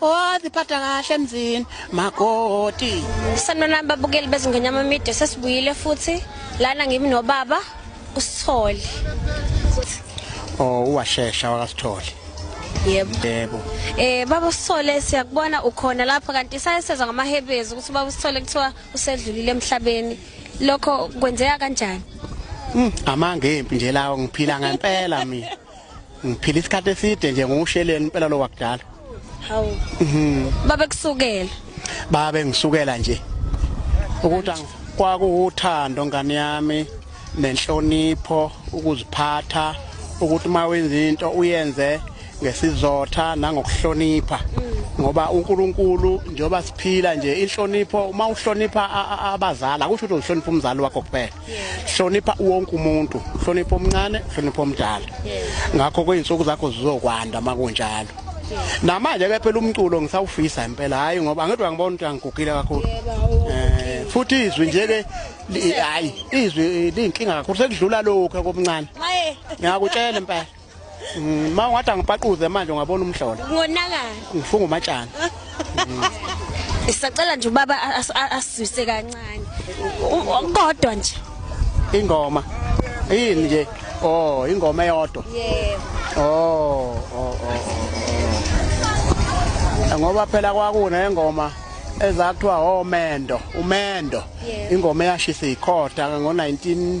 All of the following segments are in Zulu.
Waziphatha kahle emzini makoti. Sanibonani babukeli bezingonyama media sesibuyile futhi lana ngimi nobaba usithole. Oh uwashesha wakasithole. Yebo. Yebo. Eh baba usithole siyakubona ukhona lapha kanti sayesezwa ngamahebezi ukuthi baba usithole kuthiwa usedlulile emhlabeni. Lokho kwenzeka kanjani? Mm, amanga empi nje lawo ngiphila ngempela mina. ngiphila isikhathi eside nje ngusheleni impela lo wakudala hawu mhm babe kusukela babe ngisukela nje ukuthi kwakuwuthando ngane yami nenhlonipho ukuziphatha ukuthi uma wenza into uyenze ngesizotha nangokuhlonipha mm. ngoba uNkulunkulu njengoba siphila nje inhlonipho uma uhlonipha abazali akusho ukuthi uhlonipha umzali wakho kuphela hlonipha wonke umuntu hlonipha omncane hlonipha omdala ngakho kweyinsuku zakho zizokwanda makunjalo namanje ke phela umculo ngisawufisa impela hayi ngoba angithi angibona ukuthi angigugile kakhulu eh futhi izwi nje ke hayi izwi linkinga kakhulu sekudlula lokho komncane ngiyakutshela impela Mm, ma ungathi angipaquze manje ungabona umhlola. Ngonakala. Ngifunga umatshana. Isacela nje ubaba asizwise kancane. Kodwa nje. Ingoma. Yini nje? Oh, ingoma eyodwa. Yebo. Oh, oh, oh. oh. Ngoba phela kwakune engoma ezathiwa omendo, umendo. Ingoma eyashisa ikhotha ngo 19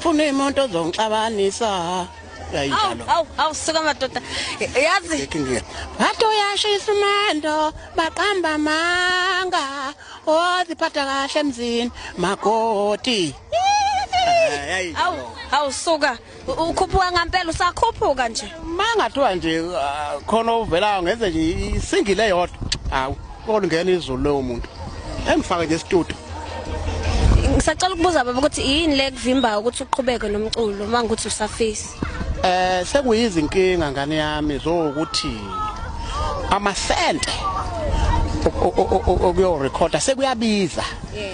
funa imoto ozongixabanisa yayinjalo awu awu suka madoda yazi bathi uyashisa umando baqamba amanga oziphatha kahle emzini makoti awu awu suka ukhuphuka ngampela usakhuphuka nje mangathiwa nje ah, khona uvelayo ngenze nje isingile yodwa awu Kolingena izulu lowo muntu. Engifake nje studio. Ngisacela ukubuza baba ukuthi yini le kuvimba ukuthi uqhubeke nomculo uma ngikuthi usafisa. Eh sekuyizinkinga ngane yami zokuthi amasente okuyo recorder sekuyabiza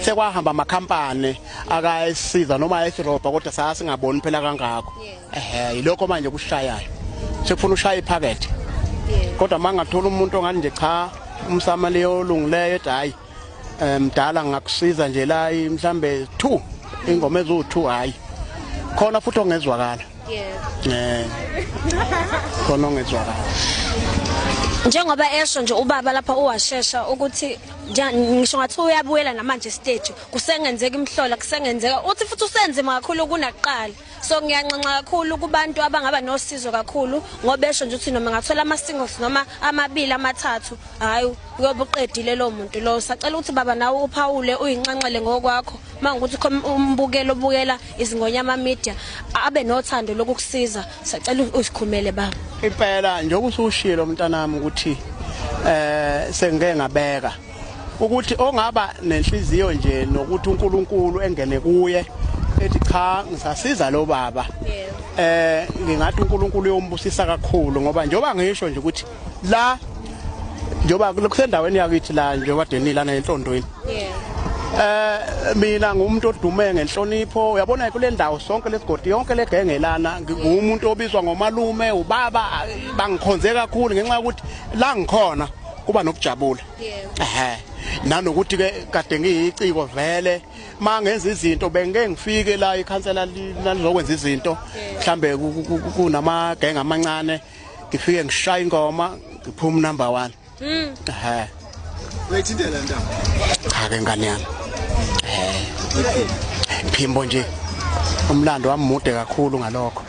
sekwahamba ama company akayisiza noma ayisirobha kodwa sasingaboni phela kangako ehe yilokho manje kushayayo sekufuna ushaya iphakethe kodwa uma ngathola umuntu ongani nje cha umsama leyo olungileyo ethi hhayi um mdala ngakusiza nje la mhlambe two ingoma eziwu-two hhayi khona futhi ongezwakala um khona ongezwakala njengoba esho nje ubaba lapha uwashesha ukuthi ngisho ngathi uyabuyela namanje stage kusengenzeka imhlola kusengenzeka uthi futhi usenzima kakhulu kunakuqala so ngiyanxenxa kakhulu kubantu abangaba nosizo kakhulu ngoba besho nje ukuthi noma ngathola ama singles noma amabili amathathu hayi uyobe uqedile lo muntu lo sacela ukuthi baba nawe uphawule uyinxenxele ngokwakho mangukuthi umbukelo obukela izingonyama media abe nothando lokukusiza sacela usikhumele baba impela njengoba usushilo mntanami ukuthi eh sengike ngabeka ukuthi ongaba nenhliziyo nje nokuthi uNkulunkulu engene kuye ethi cha ngisasiza lo baba eh ngingathi uNkulunkulu uyombusisa kakhulu ngoba njoba ngisho nje ukuthi la njoba kusendaweni yakithi la njoba denila nentondweni eh mina ngumuntu odume ngenhlonipho uyabona kule ndawo sonke lesigodi yonke legengelana ngumuntu obizwa ngomalume ubaba bangikhonze kakhulu ngenxa yokuthi la ngikhona kuba nokujabula ehe nanokuthi ke kade ngiyiciko vele mangenza izinto bengeke ngifike la ikhansela lizokwenza izinto mhlambe kunama gang amancane ngifike ngishaya ingoma ngiphuma number 1 mhm ehe uyithintela ntaba cha ke ngane yami eh phimbo nje umlando wamude kakhulu ngalokho